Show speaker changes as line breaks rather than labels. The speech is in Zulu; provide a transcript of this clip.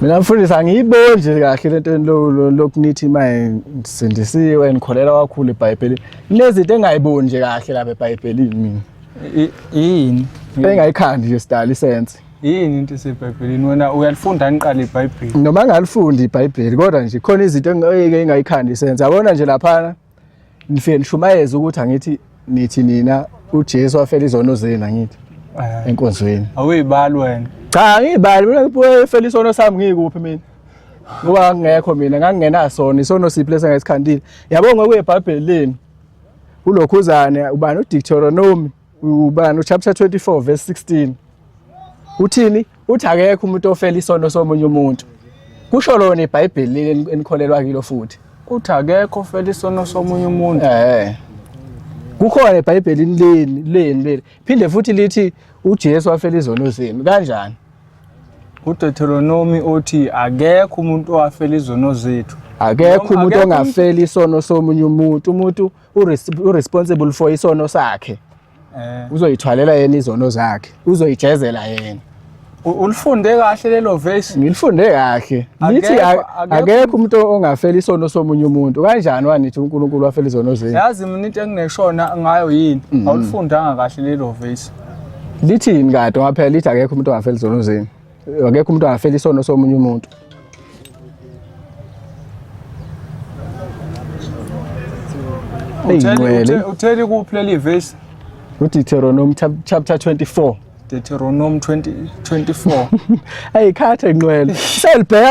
mina mfundisi angiyiboni nje kahle le nto lokunithi uma sindisiwe nikholelwa kakhulu ebhayibhelini kunezinto engayiboni nje kahle lapha ebhayibhelini mina yini
engayikhandi
nje sidala isense yini into
esebhayibhelini wena uyalifunda niqala ibhayibheli noma ngalifundi
ibhayibheli kodwa nje khona izinto engeke engayikhandi isense yabona nje laphana ngifike nishumayeze ukuthi angithi nithi nina uJesu wafela izono zenu angithi Eh, enkonzweni awuyibali wena
cha angiyibali mina
ngifela isono sami ngikuphi mina ngoba ngangingekho mina ngangingenasona isono siphi lesa ngesikhandile yabo ngokuye ebhabheli lenu ulokhuzane ubani udictoronomy Ubani uchapter 24 verse 16. Uthini? Uthi akekho umuntu ofela isono somunye umuntu. Kusho lona iBhayibheli enikholelwa kilo futhi. Uthi akekho
ofela isono somunye umuntu. Eh.
Kukhona eBhayibhelini leni leni leli. Phinde futhi lithi uJesu wafela izono zenu. Kanjani?
uDeuteronomi othi akekho umuntu owafela izono zethu akekho umuntu
ongafela isono somunye umuntu umuntu uresponsible for isono sakhe eh. uzoyithwalela yena izono zakhe uzoyijezela yena ulifunde
kahle lelo verse ngilifunde kahle
lithi akekho umuntu ongafela isono somunye umuntu kanjani wanithi uNkulunkulu wafela izono zenu yazi mina into engineshona
ngayo yini mm-hmm. awulifundanga kahle lelo verse lithini
kade waphela lithi akekho umuntu ongafela izono zenu akekho umuntu angafela isono somunye umuntu
Eyinqwele. Utheli kuphi leli verse? UDeuteronomy
chapter 24. Deuteronomy 20 24.
Ayikhathe inqwele.
Selibheka